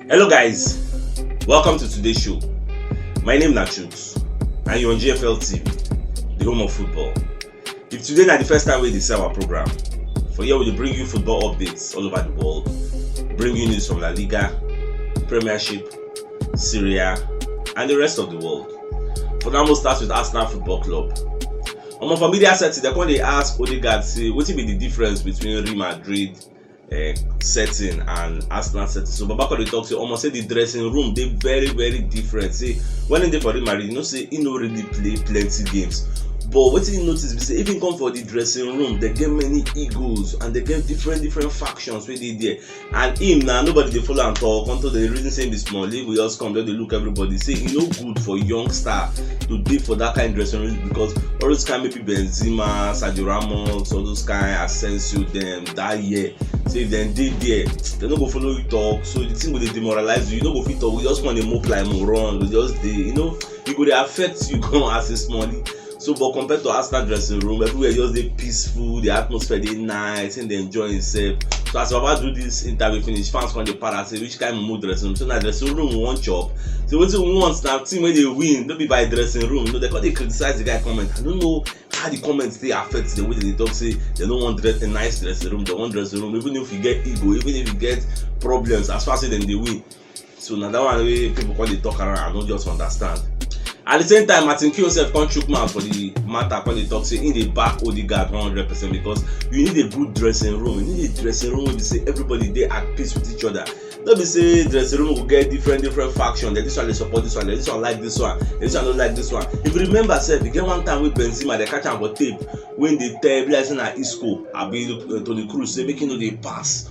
Hello guys, welcome to today's show. My name na Chuks and you're on GFL TV, the home of football. If today na the first time we dey see our program, for here we dey bring you football updates all over the world, bring you news from La Liga, Premiership, Serie A and the rest of the world. For now, we'll start with Arsenal Football Club. omo for media setting dem come dey ask odegaard say wetin be the difference between real madrid uh, setting and arsenal setting so baba come dey talk say omo say the dressing room dey very very different say when he dey for real madrid you know say he no really play plenty games but wetin you notice be say even come for the dressing room they get many egos and they get different different factions wey dey there and him na nobody dey follow am talk unto dey reason say him be small league we just come just dey look everybody say e no good for young star to dey for that kind dressing room because all those kind maybe benzema sergio ramos all those kind asensio dem that year say if dem dey there dem no go follow you talk so the thing go dey demoralize you you no go fit talk you just come dey mope like moron you go just dey you know e go dey affect you gan as a small league So but compared to Arsenal dressing room, everywhere just dey peaceful, the atmosphere dey nice, him dey enjoy himself. So as Baba do this interview finish, fans come dey para say which kind mumu dressing room? So na dressing room we wan chop. So wetin we want na team wey dey win, no be by dressing room. You know, they come dey criticize the guy comment. I no know how the comment dey affect them wey dey dey talk say they no wan dress a nice dressing room, they wan dressing room even if you get ego, even if you get problems as far say dem dey win. so na that one wey people come dey talk around i no just understand at the same time martin keown sef come chook mouth for the matter come dey talk say he dey back odegaard one hundred percent because you need a good dressing room you need a dressing room wey be say everybody dey at peace with each other no be say dressing room go get different different faction then this one dey support this one then this one like this one then this one no like this one if you remember sef e get one time wey benzema dey catch am for tape wey dey tell be like say na isco abi uh, toni kroos say make he no dey pass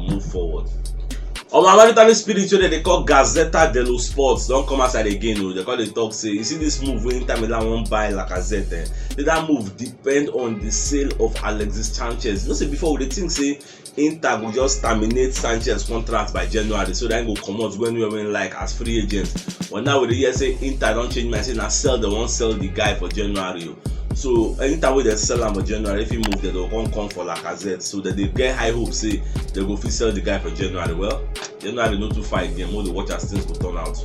move forward omo another vitamin spirit wey dem dey call gazetta dello sports don come outside again o dem come dey talk say you see this move wey inter milan wan buy lacazette eh say that move depend on the sale of alexis sanchez you know say before we dey think say inter go just terminate sanchez contract by january so that he go comot when he when like as free agent but now we dey hear say inter don change mind say na sell dem wan sell the guy for january o so anytime wey dem sell am for january if he move dem go come come for lacazette so dem dey get high hope say dem go fit sell the guy for january well january no too far again make we dey watch as things go turn out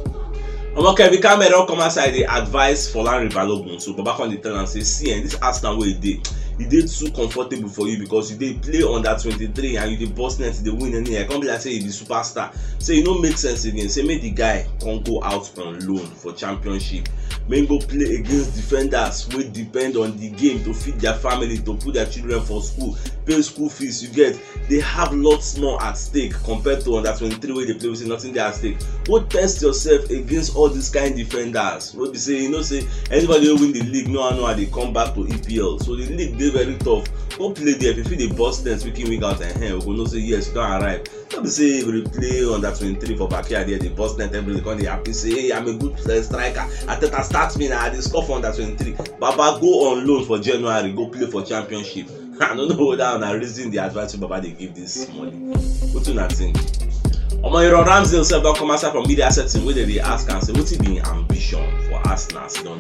omo kevin cameron don come outside dey advise folarin balogun so baba come dey tell am say see eh this arsenal wey you dey e dey too comfortable for you because you dey play under twenty-three and you dey burst net you dey win anyhow e come be like say you be superstar say e no make sense again say make the guy come go out on loan for championship make im go play against defenders wey depend on di game to feed dia family to put dia children for school pay school fees you get dey have lots more at stake compared to under twenty three wey dey play wey say nothing dey at stake go test yourself against all dis kain defenders wey be say you know say anybody wey win di league no how no how dey come back to epl so di league dey very tough go play there if you fit dey burst net week in week out ehen we go know say yes you don arrive no be say you go dey play under twenty three for backyard here dey burst net every day come dey happy say hey i'm a good uh, striker ateta start me na i dey score for under twenty three baba go on loan for january go play for championship i no know whether una reason the advice wey baba dey give this money wetin una think omo iran ramsdale sef don come outside from media setting wey dem dey ask am say wetin be im ambition for arsenal as e don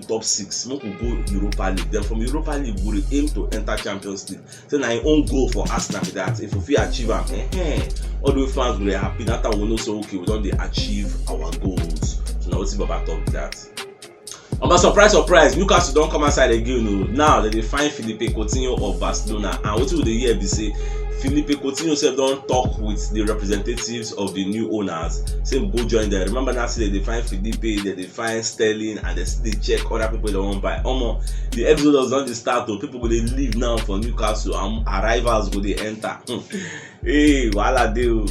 top six make we go europa league then from europa league we dey aim to enter champions league say na im own goal for arsenal be that if we fit achieve am eh, eh, all the way fans go dey happy that time we know say okay we don dey achieve our goals so na wetin baba talk be that. Omo surprise surprise Newcastle don come outside again o oh. now dem dey find Filipe Coutinho of Barcelona and wetin we dey hear be say Filipe Coutinho sef don talk with the representatives of the new owners say go join them remember now say dem dey find Filipe dem dey find sterling and dem still dey check other people dem wan buy omo the exodus don dey start o oh. people go dey leave now for newcastle and arrivals go dey enter hmm. hey wahala dey o. Oh.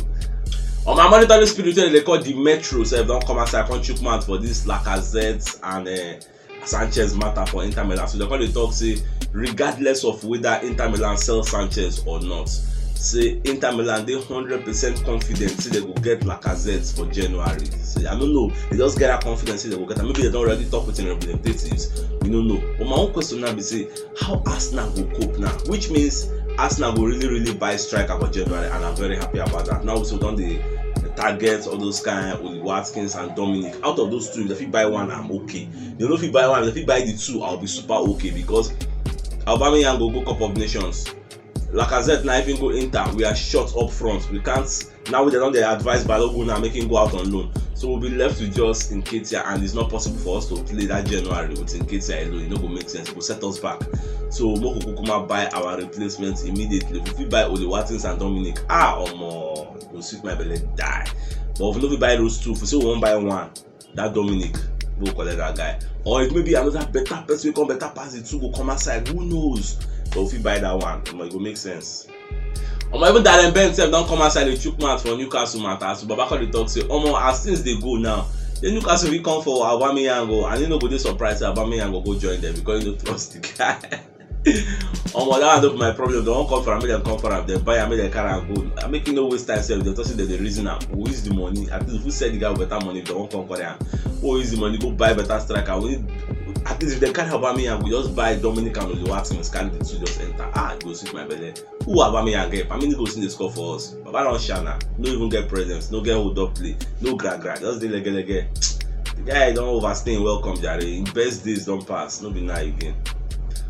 On my monitoring spirit wey dey call the metro sef don come outside come chook mouth for this lacazette and uh, sanchez matter for inter milan so dem come dey talk say regardless of whether inter milan sell sanchez or not say inter milan dey hundred percent confident say dem go get lacazette for january say i no know they just get that confidence say they go get am maybe they don already talk with im representatives we no know but my own question now be say how arsenal go cope now which means arsenal go really really buy striker for january and i'm very happy about that now so don dey target all those kind oli watkins and dominic out of those two if they fit buy one i'm okay if they no fit buy one if they fit buy the two i'll be super okay because aubameyang go go cup of nations Lacazette na if him go enter, we are short up front. We can't now we don't they advise Balogun now making go out on loan. So we'll be left with just in Katia and it's not possible for us to play that January with in Katia alone. It no go make sense. It go set us back. So Moko Kukuma buy our replacements immediately. If we buy Oli Watkins and Dominic, ah omo, go sweet my belly die. But if we no buy those two, if we say we won't buy one, that dominic go collect that guy or it may be another better person wey come better pass the two go come outside who knows but we fit buy that one omo e go make sense omo even darren bent sef don come outside dey chook mouth for newcastle matter as babakor dey talk say omo as things dey go now say newcastle fit come for aubameyang o and he no go dey surprised say aubameyang go go join them because he no trust the guy omo that one no be my problem dem wan come for am make dem come for am dem buy am make dem carry am go I make you no waste time sef dem talk say dem dey reason am we use the money at least we sell the guy better money if dem wan come carry am we go use the money go buy better striker we need at least if dem carry Aubameyang we just buy Dominic and Oluwaseun scan the two just enter ah e go sweet my belle. Who Aubameyang get? How many goals he dey score for us? Baba don sha na. No even get presence, no get hold up play, no gra gra, just dey lege lege. The guy don overstay him welcome jare. Him best days don pass, no be now again.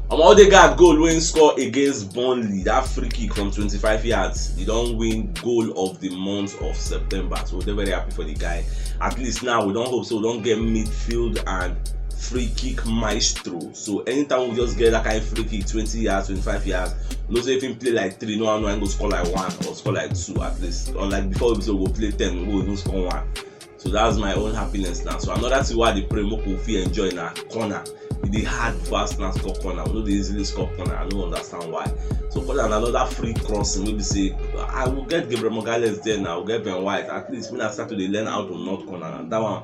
Omo Odegaard goal wey him score against Burnley, that free kick from twenty-five yards, he don win goal of the month of September. So we dey very happy for the guy. At least now we don hope say we don get midfield and free kick maestro. so anytime we just get that kind of free kick twenty yards twenty-five yards you know say if him play like three no one know him go score like one or score like two at least unlike before we be say we go play ten we go even score one so that's my own happiness now so another thing wey i dey pray make we fit enjoy na corner e dey hard for arsenal to score corner we no dey easily score corner i no understand why so corner na another free crossing wey be say i go get gabriel magalhaes there now i go get ben white at least make i start to dey learn how to knock corner na that one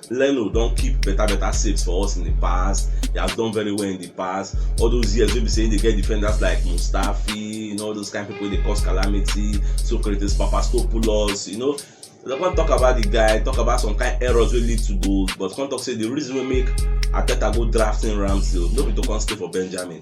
Leno don keep better better saves for us in the past. He has done very well in the past. All those years wey be say he dey get defenders like Mustafi, you know, all those kind people wey dey cause calamity, Socrates, Papastopoulos, you know. They come talk about the guy, talk about some kind errors wey lead to goals, but come talk say the reason wey make Arteta go draft in Ramsdale no be to come stay for Benjamin.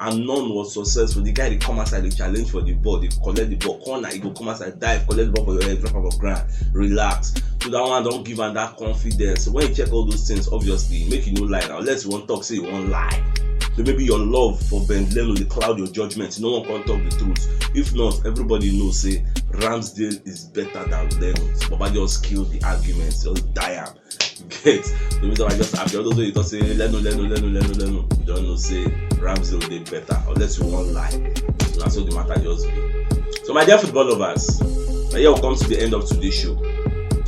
and none was successful the guy dey come outside dey challenge for the ball dey collect the ball corner he go come outside dive collect the ball for your head drop am for ground relax so that one don give am that confidence so when you check all those things obviously make you no lie now unless you wan talk say you wan lie so maybe your love for ben leno dey cloud your judgement you no wan come talk the truth if not everybody know say ramsdale is better than leno baba just kill the argument just die am get the reason why i just happy all those wey you talk say lenu lenu lenu lenu lenu you don know say ramsey dey better unless you wan lie na so the matter just be so my dear football lovers na here we come to the end of today's show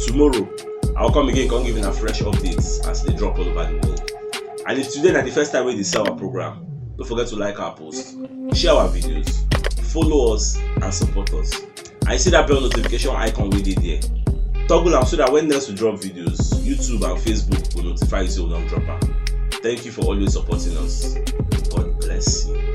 tomorrow i will come again come give una fresh updates as e dey drop all over the world and if today na the first time wey you dey see our program no forget to like our post share our videos follow us and support us and you see that bell notification icon wey dey there toggle am so that when next we drop videos youtube and facebook go notify you say we don drop am thank you for always supporting us god bless you.